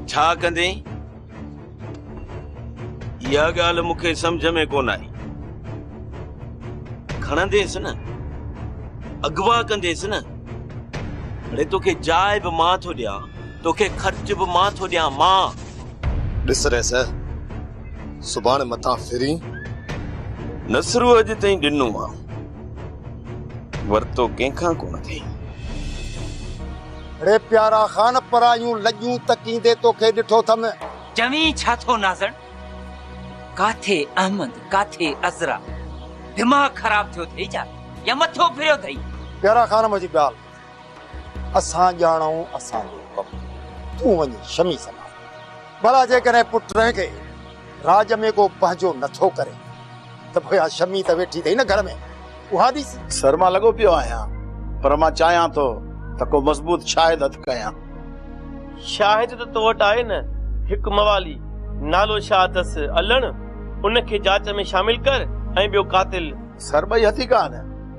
ڇا ڪندين؟ اها ڳالهه مون کي سمجهه ۾ ڪونه آئي. کڻنديس نه، اغوا ڪنديس نه. اڙي توکي جاء به مان ٿو ڏيان، توکي خرچ به مان ٿو ڏيان، مان! ڏس ريس! سڀاڻي مٿان ڦرين. نصرو اڄ تائين ڏنو آ، ورتو ڪنهن کان ڪونه اٿئي. اڙي پيارا خان پرايون لڄون تڪيندي توکي ڏٺو اٿم. چوين ڇا ٿو نازڻ، ڪاٿي احمد ڪاٿي عذرا، دماغ خراب ٿيو اٿئي ڇا يا مٿو ڦريو اٿئي. پيارا خان منهنجي ڳالهه اسان ڄاڻائون اسان جو ڪم، تون وڃي شمي سنڀال. ڀلا جيڪڏهن پٽ رحه کي راڄ ۾ ڪو پنهنجو نٿو ڪري ته پوء اها شمي ته ويٺي اٿئي نه گهر ۾، اها ڏس. سر مان لڳو پيو آهيان، پر مان چاهيان ٿو ته ڪو مضبوط شاهد هٿ ڪيان. شاهد ته تو وٽ آهي نه، هڪ موالي نالو شاهه اٿس الڻ، ان کي جاچ ۾ شامل ڪر ۽ ٻيو قاتل. سر ٻئي هٿي ڪا نه.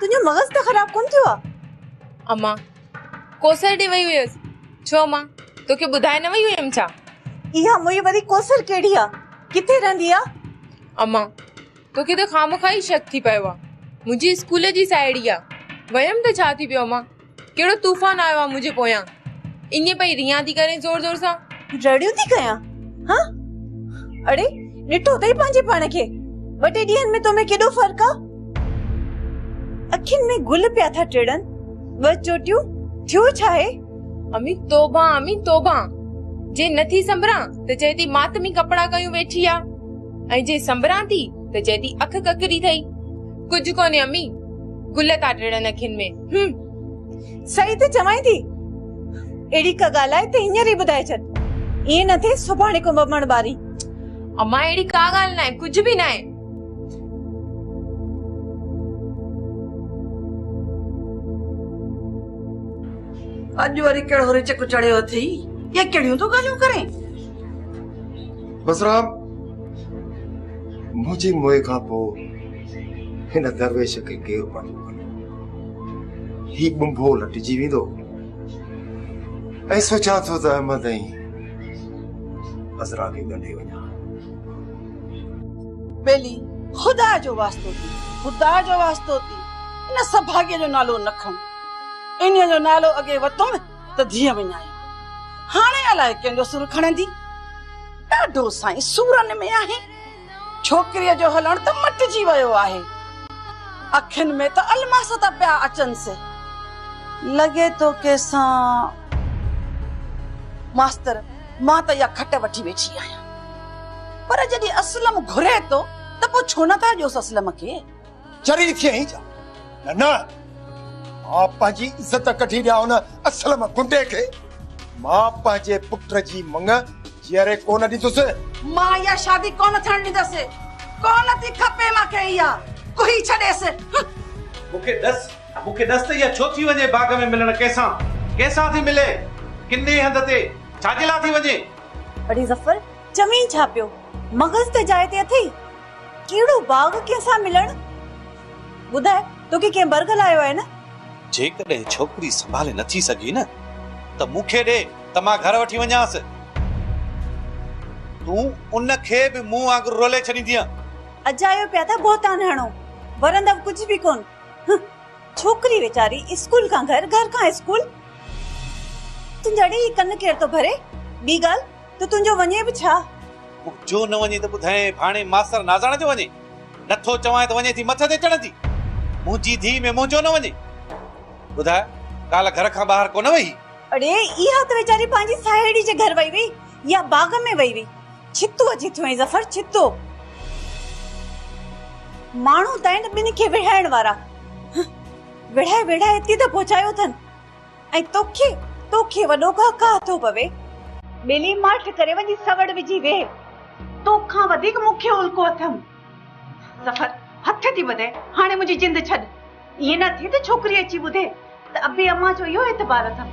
تنهنجو مغز ته خراب ڪونه ٿيو آ؟ امان ڪوثر ڏي وئي هئيس. ڇو امان توکي ٻڌائي نه وئي هئيم ڇا؟ اها موئي واري ڪوثر ڪهڙي آ؟ ڪٿي رهندي آ؟ امان توکي ته خامخواه ئي شڪ ٿي پيو آ. منهنجي اسڪول جي ساهيڙي آ. ويم ته ڇا ٿي پيو امان. ڪهڙو طوفان آيو آ منهنجي پويان. ائين پئي ريان ٿي ڪرين زور زور سان. رڙيون ٿي ڪيان ها. اڙي ڏٺو اٿئي پنهنجي پاڻ کي. ٻه ٽي ڏينهن ۾ تو ۾ ڪيڏو فرق آ. اکين ۾ گل پيا ٿا ٽڙن ٻه چوٽيون ٿيو ڇا هي. امي توبه امي توبه جي نه ٿي سنبران ته چئي ٿي ماتمي ڪپڙا ڪيون ويٺي آ ۽ جي سنبران ٿي ته چئي ٿي اک ڪڪري ٿئي. ڪجهه ڪونهي امي گل ٿا ٽڙن اکين ۾ هم صحيح ته چوائين ٿي اهڙي ڪا ڳالهه آهي ته هينئر ئي ٻڌائي ڇڏ ائين نه ٿئي سڀاڻي ڪنب مڻ ٻاري اما اهڙي ڪا ڳالهه ناهي ڪجهه به ناهي اڄ وري ڪهڙو رچڪ چڙهيو اٿئي اهي ڪهڙيون ٿو ڳالهيون ڪرين بسرام منهنجي موئي کان پوء هن درويش کي ڪير پنهنجو ڪندو هي بنڀو لٽجي ويندو ۽ سوچان ٿو ته احمد ۽ عذرا کي ڳنڍي وڃان ٻيلي خدا جو واسطو ٿي خدا جو واسطو ٿي ان سڀاڳي جو نالو نه کڻ ان جو نالو اڳي وتم ته ڌيء وڃائي هاڻي الائي ڪنهن جو سر کڻندي ڏاڍو سائين سورن ۾ آهي ڇوڪريء جو هلڻ ته مٽجي ويو آهي، اکين ۾ ته الماس ٿا پيا اچنس. لڳي ٿو ڪيسان. ماستر، مان ته اها کٽ وٺي ويٺي آهيان، پر جڏهن اسلم گهري ٿو ته پوء ڇو نه ٿا ڏيوس اسلم کي. چري ٿئين جا نه نه مان پنهنجي عزت ڪڍي ڏيان ان اسلم گنڊي کي مان پنهنجي پٽ جي مڱ جيئري ڪونه ڏيندس مان اها شادي ڪونه ٿيڻ ڏيندس ڪونه ٿي کپي مان کي اها ڪوهي ڇڏيس مون کي ڏس مون کي ڏس ته اها ڇو ٿي وڃي باغ ۾ ملڻ ڪنهن سان ڪنهن سان ٿي ملي ڪني هنڌ تي ڇاجي لاء ٿي وڃي اڙي ظفر چوين ڇا پيو مغز ته جاء تي اٿئي ڪهڙو باغ ڪنهن سان ملڻ؟ ٻڌاء، توکي ڪنهن برگل آيو آهي نه؟ جيڪڏهن ڇوڪري سنڀالي نٿي سگهي نه ته مون کي ڏي ته مان گهر وٺي وڃانس. تون ان کي به مون وانگر رولي ڇڏيندينء. اجايو پيا ٿا بهتان هڻو، ورندؤ ڪجهه به ڪونه. هه، ڇوڪري ويچاري اسڪول کان گهر، گهر کان اسڪول. تنهنجا اڙي هي ڪن ڪير ٿو ڀري؟ ٻي ڳالهه، ته تنهنجو وڃي به ڇا؟ جو نه وڃي ته ٻڌائين ڀاڻي ماستر نازاڻ جو وڃي. نه ٿو چوانء ته وڃي ٿي مٿ تي چڙهندي. منهنجي ڌيء ۾ منهنجو نه وڃي. ٻڌاء ڪالهه گهر کان ٻاهر ڪونه وئي هئي؟ اڙي اها ته ويچاري پنهنجي ساهيڙي جي گهر وئي هئي يا باغ ۾ وئي هئي. ڇتو اچي ٿيو هئي ظفر ڇتو. ماڻهو ته آهن ٻن کي وڙهائڻ وارا. وڙهائي وڙهائي اتي ته پهچايو اٿن. ۽ توکي توکي وڏو گاهه گاهه ٿو پوي. ٻيلي ماٺ ڪري وڃي سوڙ وجهي ويهه. تو کان وڌيڪ مون کي الڪو اٿم. سفر هٿ ٿي ٻڌئي هاڻي منهنجي جند ڇڏ. ائين نه ٿئي ته ڇوڪري اچي ٻڌي ته ابي امان جو اهو اعتبار اٿم.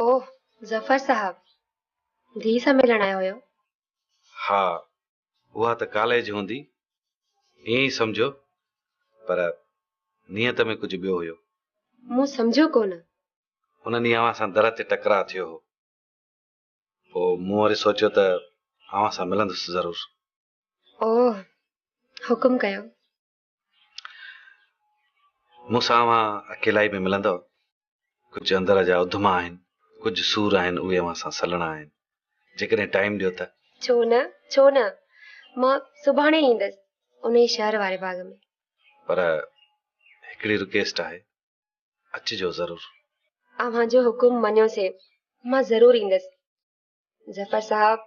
اوه ظفر صاحب ڌيء سان ملڻ آيا هيو. ها اها ته ڪاليج هوندي ائين ئي سمجهو پر نيت ۾ ڪجهه ٻيو هيو. مون سمجهيو ڪونه. ان ڏينهن اوهان سان در تي ٽڪراء ٿيو هو پوء مون وري سوچيو ته اوهان سان ملندس ضرور. اوه حڪم ڪيو. مون سان اوهان اڪيلائي ۾ ملندؤ. ڪجهه اندر جا اڌما آهن، ڪجهه سور آهن اهي اوهان سان سلڻا آهن. جيڪڏهن ٽائيم ڏيو ته. ڇو نه، ڇو نه. مان سڀاڻي ايندس انهي شهر واري باغ ۾. پر هڪڙي رڪيسٽ آهي. اچجو ضرور. اوهان جو حڪم مڃيو سي. مان ضرور ايندس. ظفر صاحب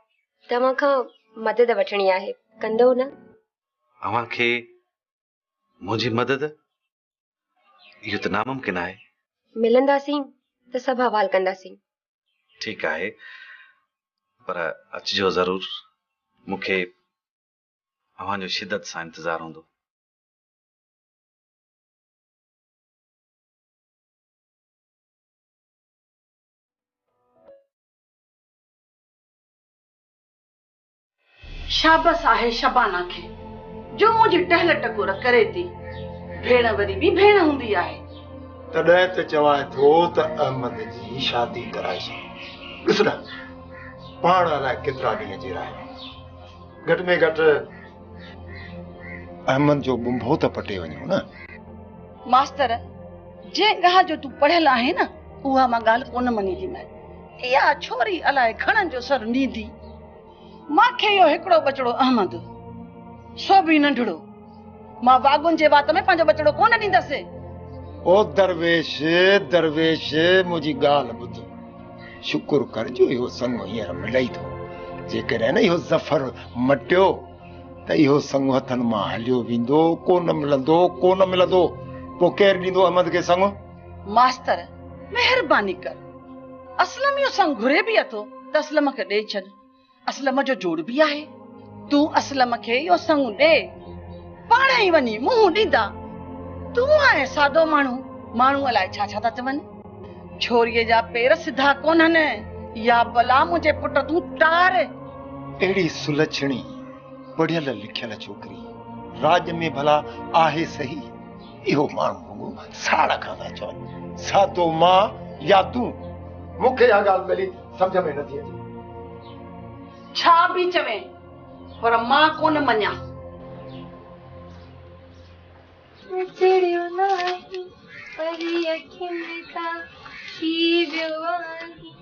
توهان کان مدد وٺڻي آهي ڪندو نه اوهان کي منهنجي مدد اهو ته ناممڪن آهي ملنداسين ته سڀ حوال ڪنداسين ٺيڪ آهي پر اچجو ضرور مون کي اوهان جو شدت سان انتظار هوندو شابس آهي شبانه کي جو منهنجي ٽهل ٽڪور ڪري ٿي. ڀيڻ وري به ڀيڻ هوندي آهي. تڏهن ته چوائين ٿو ته احمد جي شادي ڪرائي ڇڏ. ڏس نه پاڻ الائي ڪيترا ڏينهن جيئرا آهيون. گهٽ ۾ گهٽ احمد جو ٻنڀو ته پٽي وڃون نه. ماستر جنهن ڳالهه جو تون پڙهيل آهين نه. اها مان ڳالهه ڪونه مڃينديمانء. اها ڇوري الاء گهڻن جو سر نيندي. مان کي اهو هڪڙو ٻچڙو احمد، سو به ننڍڙو. مان واڳون جي وات ۾ پنهنجو ٻچڙو ڪونه ڏيندس. او درويش، درويش، منهنجي ڳالهه ٻڌ. شڪر ڪر جو اهو سڱو هينئر ملئي ٿو. جيڪڏهن نه اهو ظفر مٽيو ته اهو سڱو هٿن مان هليو ويندو. ڪونه ملندو، ڪونه ملندو. پوء ڪير ڏيندو احمد کي سڱو؟ ماستر مهرباني ڪر اسلم اهو سنگ گهري به اٿو ته اسلم کي ڏئي ڇڏ اسلم جو جوڙ به آهي تون اسلم کي اهو سنگ ڏي پاڻ ئي وڃي منهن ڏيندا تون آهي سادو ماڻهو ماڻهو الاء ڇا ڇا ٿا چون ڇوريء جا پير سڌا ڪونهن يا بلا منهنجي پٽ تون ٽار اهڙي سلڇڻي پڙهيل لکيل ڇوڪري راڄ ۾ ڀلا آهي صحيح اهو ماڻهو رڳو ساڙ کان ٿا چون، سا تو مان يا تون؟ مون کي اها ڳالهه ڀلي سمجهه ۾ نٿي اچي. ڇا به چوين پر مان ڪونه مڃان. وچڙيو ناهي پري اکين تان شي ويو آهي.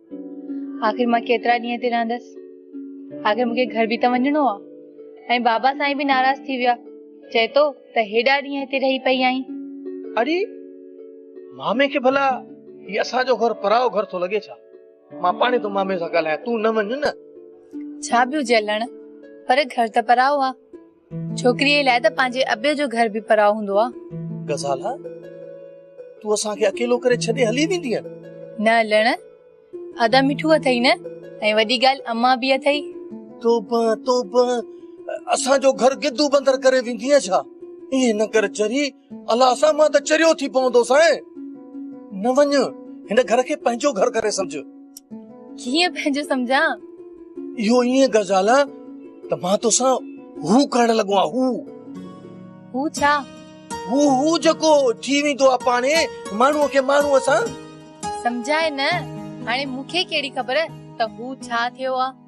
آخر مان ڪيترا ڏينهن هتي رهندس آخر مون کي گهر به ته وڃڻو آ ۽ بابا سائين به ناراض ٿي ويا چئي ٿو ته هيڏا ڏينهن هتي رهي پئي آئين اڙي مامي کي ڀلا هي اسان جو گهر پرايو گهر ٿو لڳي ڇا مان پاڻي ٿو مامي سان ڳالهايان تون نه وڃ نه ڇا به هجي الهڻ پر گهر ته پرايو آ ڇوڪريء لاء ته پنهنجي ابي جو گهر به پراء هوندو آ. غزالا تون اسان کي اڪيلو ڪري ڇڏي هلي ويندينء؟ نه لڻ، ادا مٺو اٿئي نه، ۽ وڏي ڳالهه امان به اٿئي. توبه توبه، اسان جو گهر گدو بندر ڪري ويندينء ڇا؟ ائين نه ڪر چري، الله اسان مان ته چريو ٿي پوندو سانء. نه وڃ، هن گهر کي پنهنجو گهر ڪري سمجهه. ڪيئن پنهنجو سمجهان اهو ائين غزال ته مان توسان هو ڪرڻ لڳو آهيان هو هو ڇا هو هو جيڪو ٿي ويندو آهي پاڻي ماڻهو کي ماڻهو سان سمجهائي نه هاڻي مون کي ڪهڙي خبر ته هو ڇا ٿيو آهي